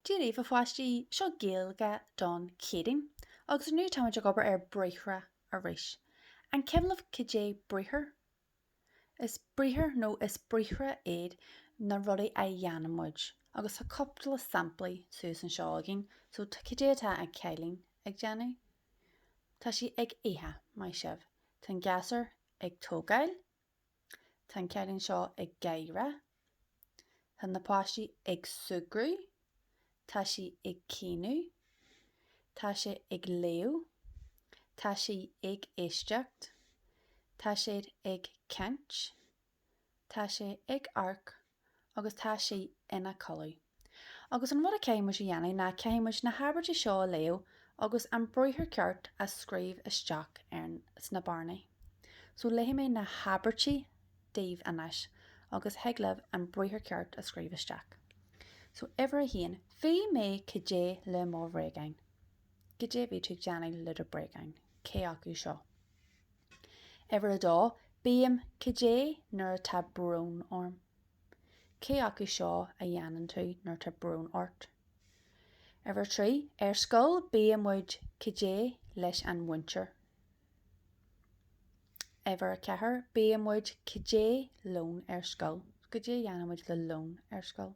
Dia daoibh a pháistí seo Gaeilge don Chéadaoin agus inniu táimid ag obair ar briathra arís. An cuimhin libh cad é briathar? Is briathar nó is briathra iad na rudaí a dhéanann muid agus tá cúpla samplaí suas anseo againn so cad é atá an cailín ag déanamh? Tá sí ag ithe, maith sibh. Tá an gasúr ag tógáil. Tá an cailín seo ag gáire. Tá na páistí ag súgradh. Tá sí ag caoineadh. Tá sé ag léamh. Tá sí ag éisteacht. Tá siad ag caint. Tá sé ag amharc. agus tá sí ina codladh. Agus an rud a caithfidh muid a dhéanamh ná caithfidh muid na habairtí seo a léamh agus an briathar ceart a scríobh isteach ar sna bearnaí. So léifidh mé na habairtí daoibh anois agus thig libh an briathar ceart a scríobh isteach. So uimhir a haon, Bhí mé cad é le mo bhréagáin. Cad é a bhí tú ag déanamh le do bréagáin? Cé acu seo? Uimhir a dó, Bím, cad é, nuair atá brón orm. Cé acu seo a dhéanann tú nuair atá brón ort? Uimhir a trí, Ar scoil bíonn muid, cad é, leis an mhúinteoir. Uimhir a ceathair, Bíonn muid, cad é, lón ar scoil. Cad é a dhéanann muid le lón ar scoil?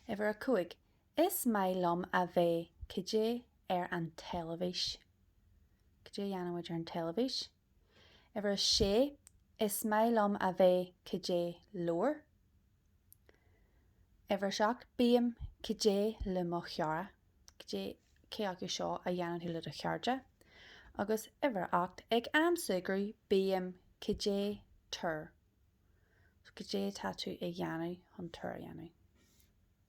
Uimhir a cúig, Is maith liom a bheith cad é ar an teilifís. Cad é a dhéanann muid ar an teilifís. Uimhir a sé, Is maith liom a bheith cad é leabhar. Uimhir a seacht, Bím cad é le mo chara. Cad é cé acu seo a dhéanann tú le do chairde. Agus uimhir a hocht, Ag am súgradh, bím cad é túr. Cad é atá tú ag dhéanamh chun túr a dhéanamh.